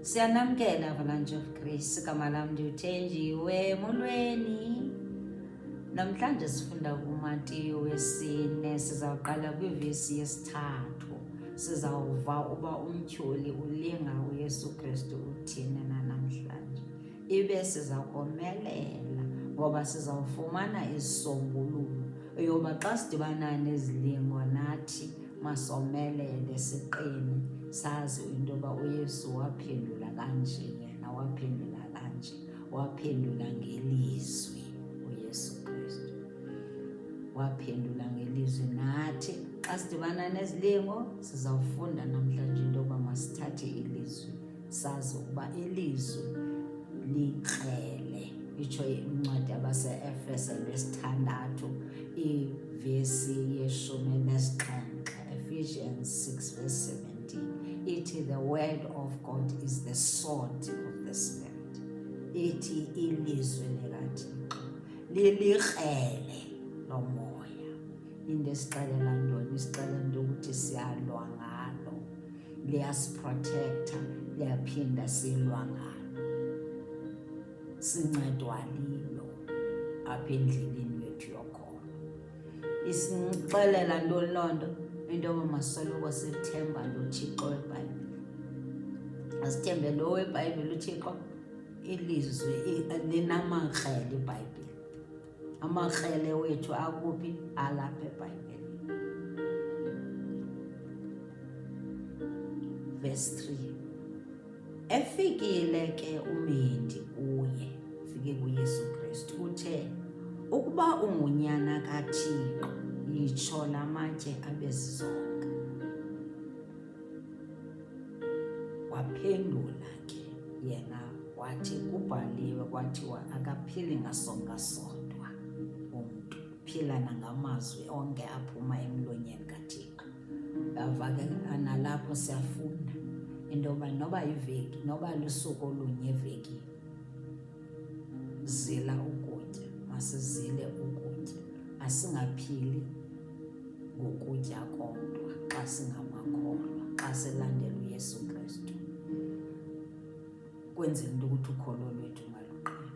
Siyanamkela Avalanche of Grace kamala ndiwuthenjiwe molweni. Namhlanje sifunda kuMatiyo wesine sizawuqala kwivesi yesithathu. Sizawuva uba umtyholi ulinga uYesu Kristu uthini na namhlanje. Ibe sizakomelela ngoba sizawufumana isisombululo yoba xa sidibana nezilingo nathi masomelele siqine sazi into yoba uyesu waphendula kanje yena waphendula kanje waphendula ngelizwi uyesu kristu waphendula ngelizwi nathi xa sidibana nezilingo sizawufunda namhlanje into yoba masithathe ilizwi sazi ukuba ilizwi likrele itsho incwadi yabaseefese lwesithandathu ivesi yeshumi nesixhenxe ephesians 6 verse 17 ithi the word of god is the sword of the spirit ithi ilizwi likathixo lilikrele lomoya into esixelela ntoni isixelela into ukuthi siyalwa ngalo liyasiprotektha liyaphinda silwa ngalo sincedwa lilo apha endleleni yethu yokholo isixelela ntoni loo nto into yoba masoloko sithemba lothixo webhayibhile asithembe lo webhayibhile uthixo ilizwi linamakrele ibhayibhile amakrele wethu akuphi alapha ebhayibhile verse 3 efikile ke umendi kuye ufike kuyesu kristu uthe ukuba ungunyana kathixo yitsho la matye abezizonke Waphendula ke yena wathi kubhaliwe kwathiwa akaphili ngasonka sodwa umntu phila nangamazwi onke aphuma emlonyeni kaThixo. Ngava ke analapho siyafunda into yoba noba yiveki noba lusuku olunye evekini zila ukutya masizile ukutya asingaphili ngokutya kodwa xa singamakholwa xa silandela uyesu kristu kwenzela into ukuthi ukholo lwethu maluqina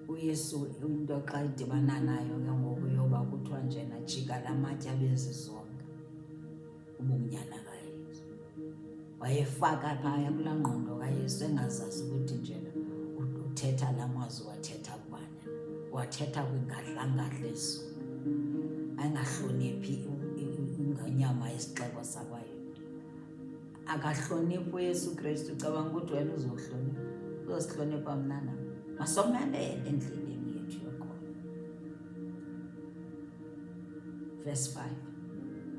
uyesu into xa idibana nayo ke ngoku yoba kuthiwa njena jika la matye abezizonke ubunyana kaYesu. Wayefaka phaya kulaa ngqondo kaYesu engazazi ukuthi njena uthetha la mazwi wathetha kubani wathetha kwingadlangadla ezulu angahloniphi ingonyama yesixeko sakwayo akahloniphi uyesu kristu ucabanga ukuthi wena uzohlonipha uzosihlonipha mna nam masomelele endleleni Verse 5.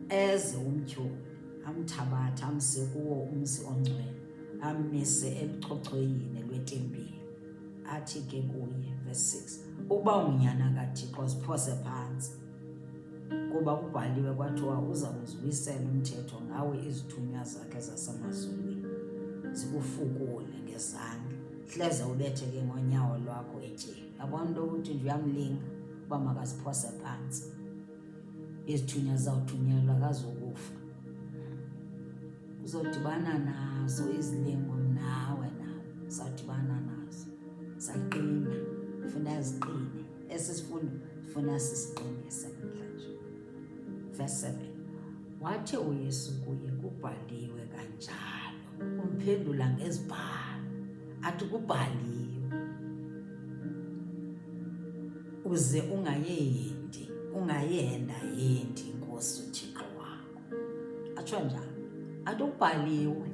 Eze umtyholi amthabatha amse kuwo umzi ongcwele amise elucocoyini lwetempile athi ke kuye verse 6 uba unyana kathixo ziphose phantsi kuba kubhaliwe kwathiwa uza kuzibuyisela umthetho ngawe izithunywa zakhe zasemazulwini zikufukule ngezandla hleze ubetheke ngonyawo lwakho etyeni yabona into yokuthi nje uyamlinga uba makaziphose phantsi izithunywa zizawuthunyelwa kazokufa uzodibana nazo izilingo nawe nawe uzawudibana nazo zaqina funa ziqine esi sifundo funa sisiqinise namhlanje verse 7 wathi uyesu kuye kubhaliwe kanjalo Umphendula ngezibhalo athi kubhaliwe uze ungayendi ungayenda yendi inkosi uthixo wakho atsho njalo athi ubhaliwe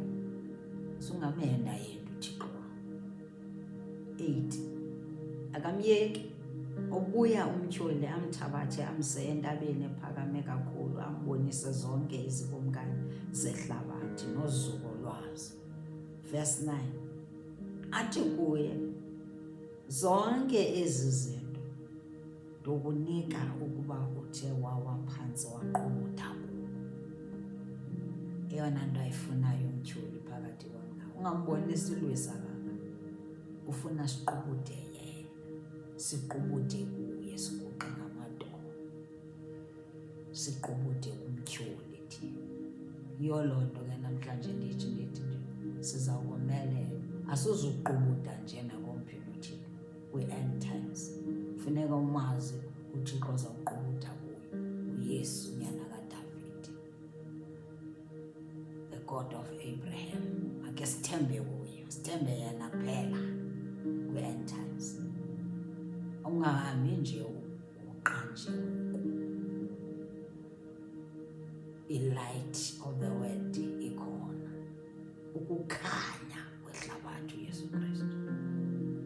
uze ungamenda yendi 8 akamyeki obuya umtyholi amthabathe amse entabeni ephakame kakhulu ambonise zonke izikumkani zehlabathi nozuko lwazo verse 9 athi kuye zonke ezi zinto Ndokunika ukuba uthe wawa phantsi waqumutha kuwo. Eyona nto ayifunayo umtyholi phakathi kwam nawe ungambonisi ulwisa kanga ufuna siqubude yena siqubude kuye siguqe ngamadolo siqubude kumtyholi thina yiyo loo nto ke namhlanje ndithi ndithi nje sizawukomelela asuzuqubuda njena kwi-end times funeka umazi uthixo ozawuqubutha kuyo uyesu nyana kadavidi the god of abraham ake sithembe kuyo sithembe yena kuphela kwi-end times ungahambi nje uqanjiwe i-light of the world ikhona ukukhanya kwehlabathi uyesu kristu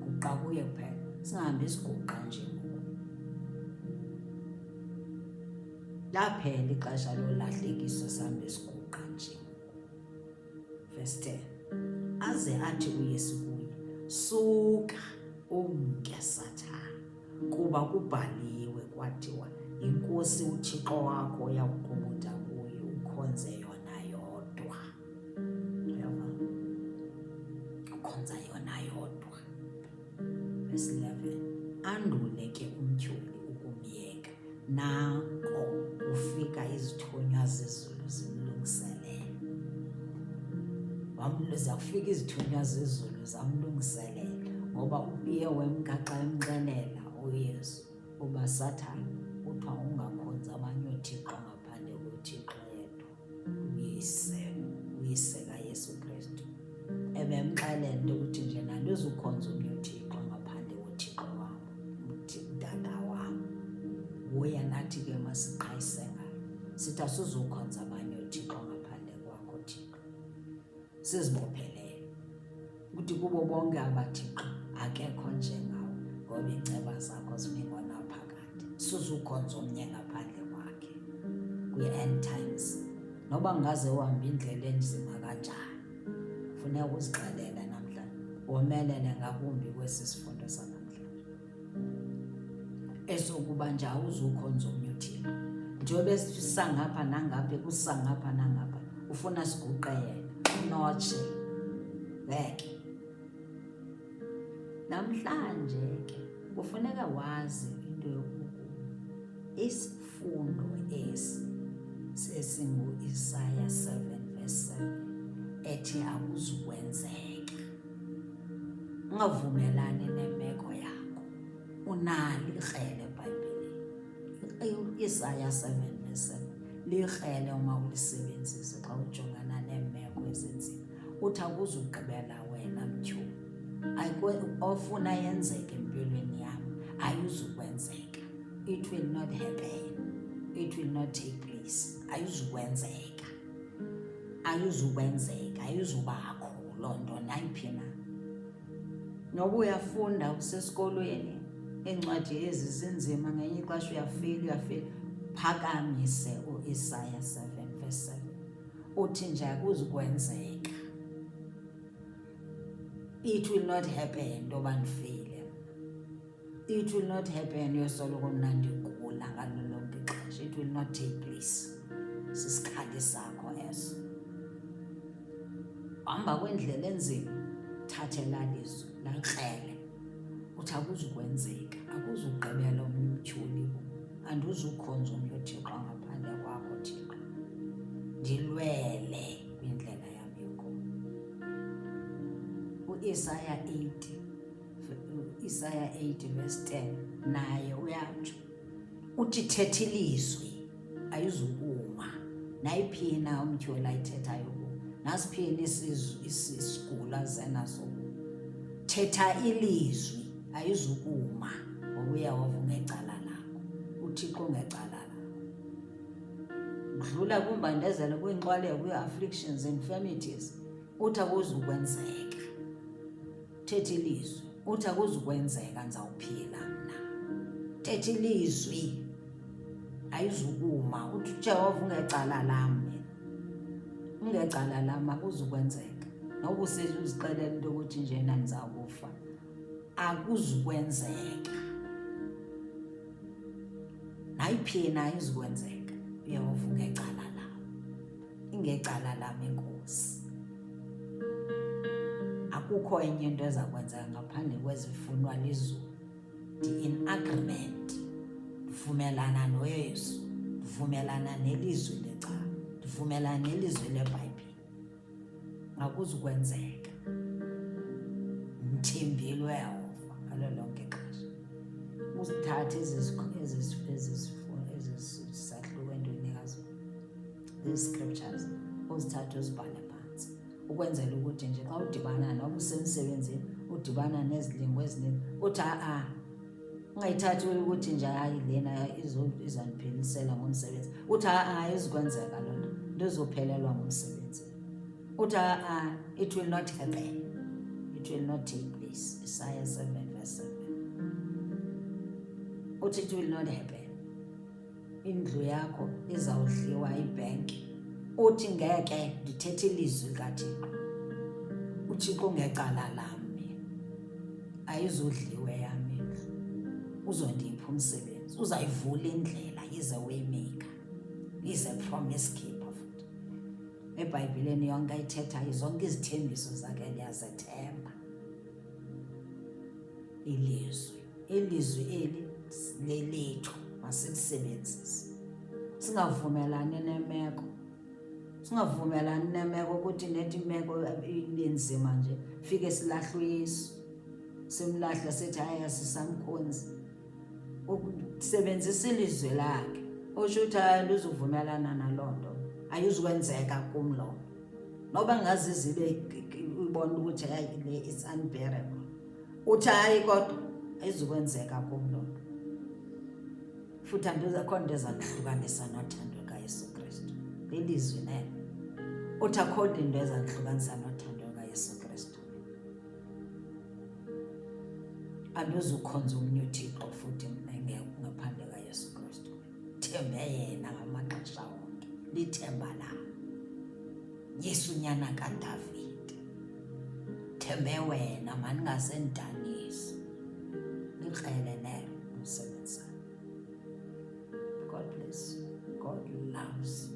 guqa kuye kuphela singahambi siguqa nje laphela ixesha lolahlekisa sihambe siguqa nje verse 10 aze athi uyesu kuye suka umke sathana kuba kubhaliwe kwathiwa inkosi uthixo wakho uyakukhumbuda kuyo ukhonze yona yodwa Uyava? Ukhonza yona yodwa. Verse 11. Andule ke umtyholi ukumyeka. Nako ufika izithunywa zezulu zimlungiselela. Wamluza kufika izithunywa zezulu zamlungiselela ngoba upiye wemka xa emxelela uYesu uba sathane kuthiwa ungakhonzi abanye oothixo ngaphandle kothixo yedwa. Uyise, uyise kaYesu Kristu ebemxelele ukuthi nje nandizukhonza omnye uThixo ngaphandle koThixo wam, uTata wam. Nguye nathi ke masiqhayise ngayo sithi asizukhonza abanye oThixo ngaphandle kwakho Thixo. sizibophelele ukuthi kubo bonke abathixo akekho njengawo ngoba iinceba zakho zibingona phakathi suzukhonza omnye ngaphandle kwakhe kwi-end times noba ngaze uhamba indlela enzima kanjani funeka uzixelela namhlanje womelele ngakumbi kwesi sifundo sana esokuba njawo uzukhonza omnye uthixo njengoba esisangapha nangapha ekusangapha nangapha ufuna siguqe yena unotshe ngeke namhlanje ke kufuneka wazi into yokuku isifundo esi sesingu-isaya 7 verse 7 ethi akuzukwenzeka ungavumelani nemeko yakho unalo ikrele ebhayibhileni isaya 7 verse 7 likrele uma ulisebenzise xa ujongana neemeko ezinzima uthi akuzugqibela wena mtyhulu ofuna yenzeke empilweni yam ayizukwenzeka it will not happen it will not take place ayizukwenzeka ayuzukwenzeka ayuzubakho loo nto nayiphi na noba uyafunda usesikolweni iincwadi ezi zinzima ngenye ixesha uyafika uyafika phakamise uisaya 7 verse 7 uthi nje akuzukwenzeka it will not happen into yoba ndifile It will not happen yosoloko mna ndigula ngalo lonke ixesha. It will not take place. Sisikhali sakho eso. Hamba kwendlela enzima, thatha elalizwi lakrele. Uthi akuzukwenzeka, akuzugqibela omnye umtyholi bo. Andizukhonza omnye uThixo ngaphandle kwakho Thixo. Ndilwele kwindlela yam yokuba. U-Isaya 80 Isaya 8 verse 10 naye uyatsho uthi thetha ilizwi ayizukuma nayiphi na umtyhwela ayithethayo ku nasiphi na isigulo azenaso ku thetha ilizwi ayizukuma ngoba uyehova ungecala lakho uthixo ungecala lakho udlula kwimbandezelo kwiinxwaleko kwii-afflictions infirmities uthi akuzukwenzeka Thetha ilizwi. Uthi akuzukwenzeka ndizawuphila mna. Thetha ilizwi. Ayizukuma. Uthi uJehova ungecala lam. Ungecala lam akuzukwenzeka. Noba usezi uzixelela into yokuthi njena ndizawukufa. Akuzukwenzeka. Nayiphi na izukwenzeka. Uyehova ungecala ingecala lam inkosi akukho enye into eza kwenzeka ngaphandle kwezifunwa lizulu ndi-in agreement ndivumelana noyesu ndivumelana nelizwi leca ndivumelana nelizwi lebhayibhile ngakuzukwenzeka ndithembile uyehova ngalo lonke ixesha uzithathe ezizisahluko entweni these scriptures uzithathe uzibhale phansi ukwenzela ukuthi nje xa udibana noba usemsebenzini udibana nezilingo eziningi uthi a-a ungayithathi ukuthi nje hayi lena izandiphelisela ngomsebenzi uthi a-a izikwenzeka loo nto ndizophelelwa ngumsebenzi uthi a-a it will not happen it will not take place isaya 7 verse 7 uthi it will not happen indlu yakho izawudliwa yibhenki uthi ngeke ndithethe ilizwi kathixo uthixo ngecala lam ayizudliwe yami uzondipha umsebenzi uzayivula indlela yize waymaker is a promise keeper futhi ebhayibhileni yonke ayithethayo zonke izithembiso zakhe ndiyazethemba ilizwi ilizwi eli lelethu masilisebenzise singavumelani nemeko singavumelani nemeko ukuthi nethi imeko ibenzima nje fike silahle uyesu simlahle sithi hayi asisamkhonzi ukusebenzisa ilizwi lakhe usho ukuthi hayi luzuvumelana naloo nto ayizukwenzeka kum loo noba ngazizibe ibona ukuthi hayi le it's unbearable uthi hayi kodwa ayizukwenzeka kum loo nto futhi andizekho nto eza kuhlukanisa nothando lukayesu kristu lilizwi nelo uthi akho nto into eza kuhlukanisa nothando lukayesu kristu andizukhonza omnye uthixo futhi mna ngaphandle kayesu kristu Thembe yena ngamaxesha onke, lithemba lam. Yesu nyana kaDavide, thembe wena mandingasendanisi. Likrele nelo umsebenzi. God bless you. God loves you.